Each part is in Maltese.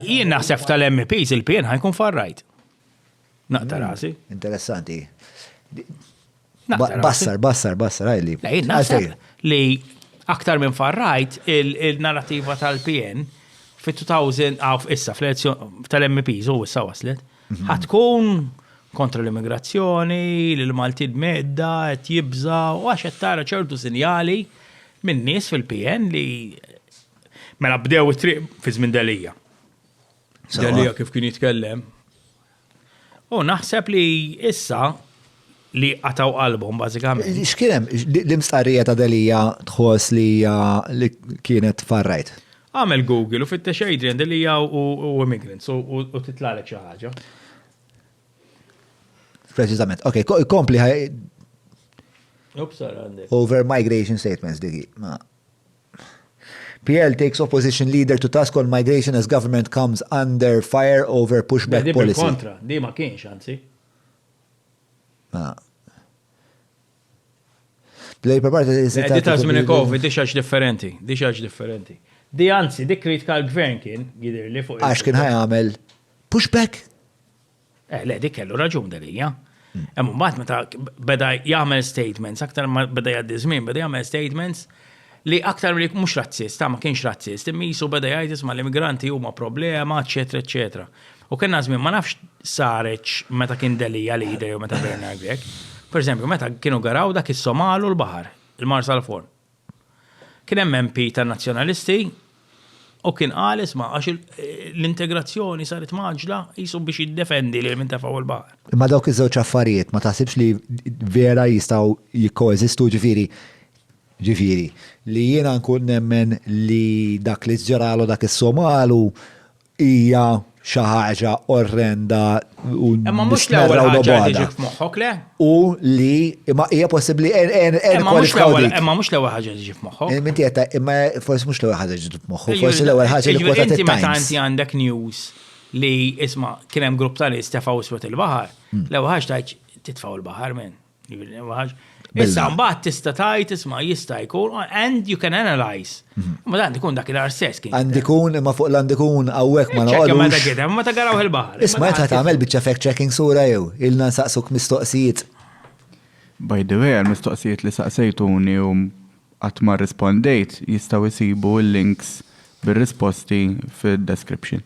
Jien naħseb tal-MPs il-PN ħajkun farrajt. Naqta hmm, rasi. Interessanti. Bassar, bassar, bassar, għajli. Jien naħseb li aktar minn farrajt il-narrativa tal-PN fit-2000 għaf issa fl-elezzjoni tal-MPs u issa waslet. Mhm. Ħatkun kontra l-immigrazzjoni, l-Malti medda, qed jibża u għax qed tara ċertu sinjali minn nies fil-PN li Mela bdew it-triq fi żmien Delija. Delija kif kien jitkellem. U naħseb li issa li qataw qalbhom bażikament. X'kienem l-imstarrija ta' Delija tħoss li li kienet farrajt? Għamel Google u fittex Adrian Delija u immigrants u titlalek xi ħaġa. Preċiżament. Ok, kompli ħaj. Over migration statements digi. PL takes opposition leader to task on migration as government comes under fire over push back policy. Di bil-kontra, di ma kienx anzi. Ah. Play per parti is Di ta' żmien covid di xaġ differenti, di xaġ differenti. Di anzi, di kritika l-gvern kien jidir li fuq. Għax kien ħajamel pushback Eh, le, dik kellu raġun dalija. Hemm mbagħad meta beda jagħmel statements, aktar ma beda jgħaddi żmien, beda jagħmel statements li aktar li mhux razzist, ma kienx razzist, immisu beda jgħid isma' l-immigranti huma problema, eċetera, eċetera. U kien żmien ma nafx sareċ meta kien delija li jidher meta Bernard Grek. Per eżempju, meta kienu garaw dak is-Somalu l-baħar, il-Mars għal-Forn. Kien hemm MP tan-Nazzjonalisti u kien qal isma' għax l-integrazzjoni saret mgħaġġla qisu biex jiddefendi lil min tefgħu l-baħar. Imma dawk iż-żewġ affarijiet ma taħsibx li vera jistgħu jikkoeżistu ġifieri ġifieri li jiena nkun nemmen li dak li ġralu dak is-Somalu Hija xi ħaġa orrenda u Imma mhux nistnerra l-ewwel u ħaġa li nobgħodha. tiġik f'moħħok, le? U li imma hija possibbli en en en Imma mhux kwalifikaw l-ewwel dik. imma mhux l-ewwel ħaġa li tiġi f'moħħok. Eh, Minti qed imma forsi mhux l-ewwel ħaġa ġiet f'moħħu, Jiġifieri- forsi l-ewwel ħaġa li jiġifieri kwotat inti meta it-Times. inti għandek news li isma' kien hemm grupp ta' nies tefgħu iswed il-baħar, Hmm. l-ewwel ħaġa tgħid titfgħu l-baħar minn. Issa mbagħad tista' tajt isma' jista' jkun and you can analyze. Mhm. Ma dan ikun dak il-arsess kien. Għand ikun imma fuq l-għand ikun hawnhekk ma naqgħodux. Meta gidem, meta garaw il-baħar. Isma' qed tagħmel biċċa fact checking sura jew ilna nsaqsuk mistoqsijiet. By the way, għal-mistoqsijiet li saqsejtuni u qatt ma rispondejt jistgħu jsibu l-links bir-risposti fid-description.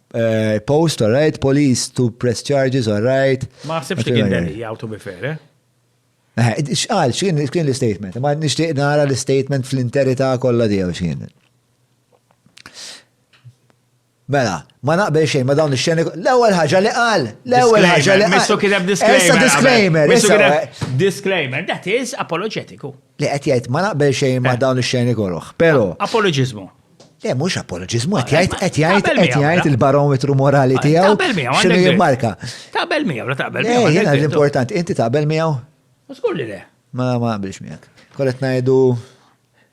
Eh, post, all right, police to press charges, all right. Ma għasibx li kien deli, għaw to be fair, eh? eh xqal, xkien kien l-statement, ma nishtiq nara l-statement fl-interita kolla dijaw xkien. Mela, ma naqbel xejn ma dawn ix-xeni. L-ewwel ħaġa li qal, l-ewwel ħaġa li qal. Missu kien hemm disclaimer. disclaimer. Missu kien hemm disclaimer. That is apologetiku. Li qed jgħid ma naqbel xejn ma eh. dawn ix-xeni kollha. Però. Apologiżmu. Le, mhux apoloġiżmu, qed jgħid qed jgħid qed jgħid il-barometru morali tiegħu. Taqbel miegħu. X'inhu jimmarka? Taqbel miegħu, la taqbel miegħu. Eh, jiena l-importanti, inti taqbel miegħu? Żgur li le. Ma ma qabilx miegħek. Kollet ngħidu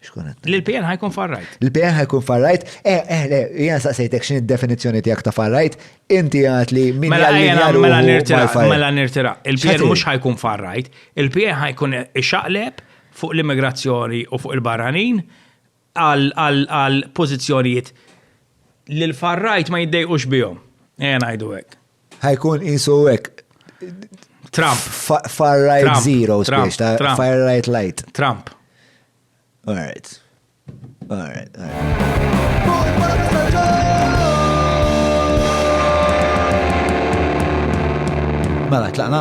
xkunet. L-PN ħajkun farrajt. L-PN ħajkun farrajt. Eh, eh, le, jena saqsejtek xin id-definizjoni tijak ta' farrajt, inti għat li minn mela, għallu. Mela nirtira, mela nirtira. Il-PN mux ħajkun farrajt, il-PN ħajkun xaqleb fuq l-immigrazzjoni u fuq il-barranin għal pożizzjonijiet li l-far right ma jiddejqux bihom. Ejja ngħidu hekk. Ħajkun qisu hekk. Trump. Far right zero, spiex, far right light. Trump. All right. All right. All right. Mela, tlaqna?